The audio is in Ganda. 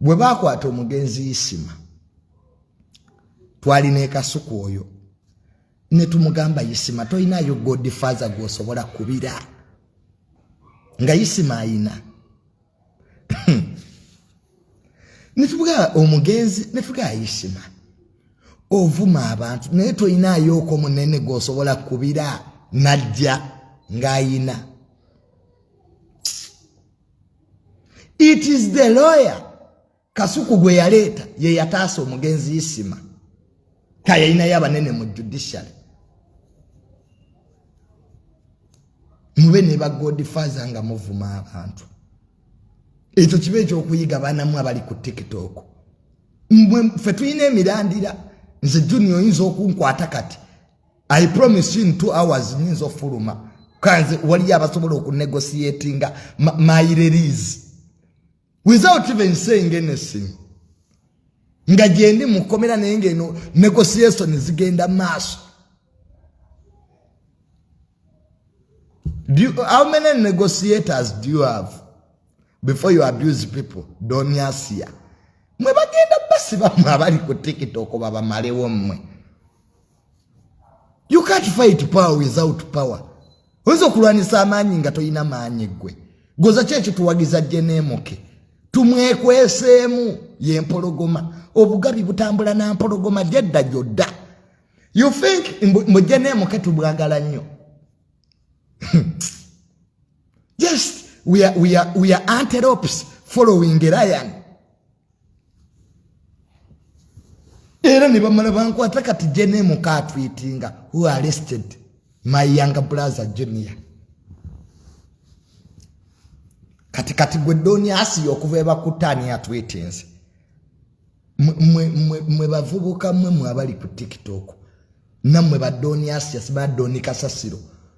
bwe baakwata omugenzi isima twali nekasuku oyo ne tumugamba isima tolinayo godfather gwosobola kubira nga isima ayina netubuga omugenzi netuga isima ovuma abantu naye tolinayo oko munene gwosobola kubira najja ng'ayina it is the lawyer kasuku gwe yaleeta ye yataasa omugenzi isima kayalinayo abanene mu judiciary mube ne bagodifaza nga muvuma abantu ekyo kiba ekyokuyiga banamu abali ku tiktok mwe ffe tulina emirandira nze juni oyinza okunkwata kati I promise you in two hours nyinza ofuluma kanze waliyo abasobola okunegotiatinga my release without even saying anything nga gyendi mukomera naye ngaeno negotiation zigenda maaso Do you, how many negotiators do you have before you abuse people? Doniasia. Mwe bagenda basi bamwe abali ku TikTok babamalewo mwe. you can't fight power without power oyinza okulwanisa amaanyi nga tolina maanyi ggwe goza ki ekituwagiza jeneemuke tumwekweseemu ye mpologoma obugabi butambula na mpologoma gyedda gyodda you think mbu jeneemuke tubwagala nnyo just we are, we are, we are antelopes following a lion era ne bamala bankwata kati jenemu katwitinga who arrested my young brother junior kati kati gwe doni asiya okuva ebakutaani atwitinze mwe bavubuka mwe mwe abali ku tiktok nammwe badoni asias badoni kasasiro